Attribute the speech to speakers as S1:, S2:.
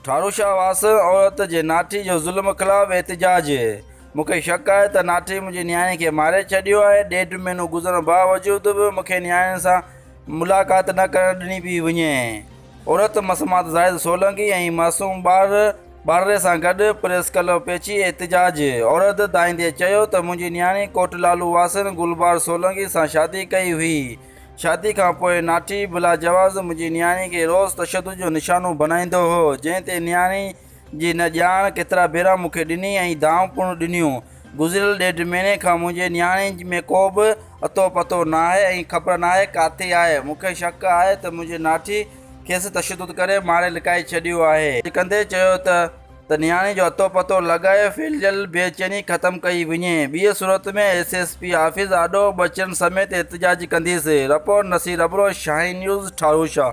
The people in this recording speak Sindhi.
S1: ٺارو شاهه واس عورت جي ناٺي جو ظلم خلاف احتجاج مون کي شڪ آهي ته ناٺي منهنجي نياڻي کي ماري ڇڏيو آهي ڏيڍ مهينو گذرڻ باوجود به مون کي نياڻين سان ملاقات نه ڪرڻ ڏني پئي وڃي عورت مسمات زاهد سولنگي ۽ معصوم ٻار ٻارڙي سان گڏ پريس ڪلب پهچي احتجاج عرض دائيندي چيو ته منهنجي نياڻي ڪوٽ لالو واسين گلبار سولنگي سان شادي ڪئي هئي، شادي کان پوء ناٺي بلاجواز منهنجي نياڻي کي روز تشدد جو نشانو بنائيندو هو جنهن تي نياڻي جي نه ڄاڻ ڪيترا ڀيرا مون کي ڏني ۽ دانهون پڻ ڏنيون. گذريل ڏيڍ مهيني کان منهنجي نياڻي ۾ ڪو به اتو پتو ناهي ۽ خبر ناهي ڪاٿي آهي. مون کي شڪ آهي ته منهنجي ناٺي کيس تشدد ڪري ماري لڪائي ڇڏيو آهي. ڳالهه ڪندي چيو ته ته نياڻي جو اتو پتو لڳائي ڦهلجيل بي چيني ختم ڪئي وڃي. ٻيء صورت ۾ ايس ايس پي آفيس آڏو ٻچڙن سميت احتجاج ڪنديس. Report, Naseer Abro, Shaheen news, Tharushah.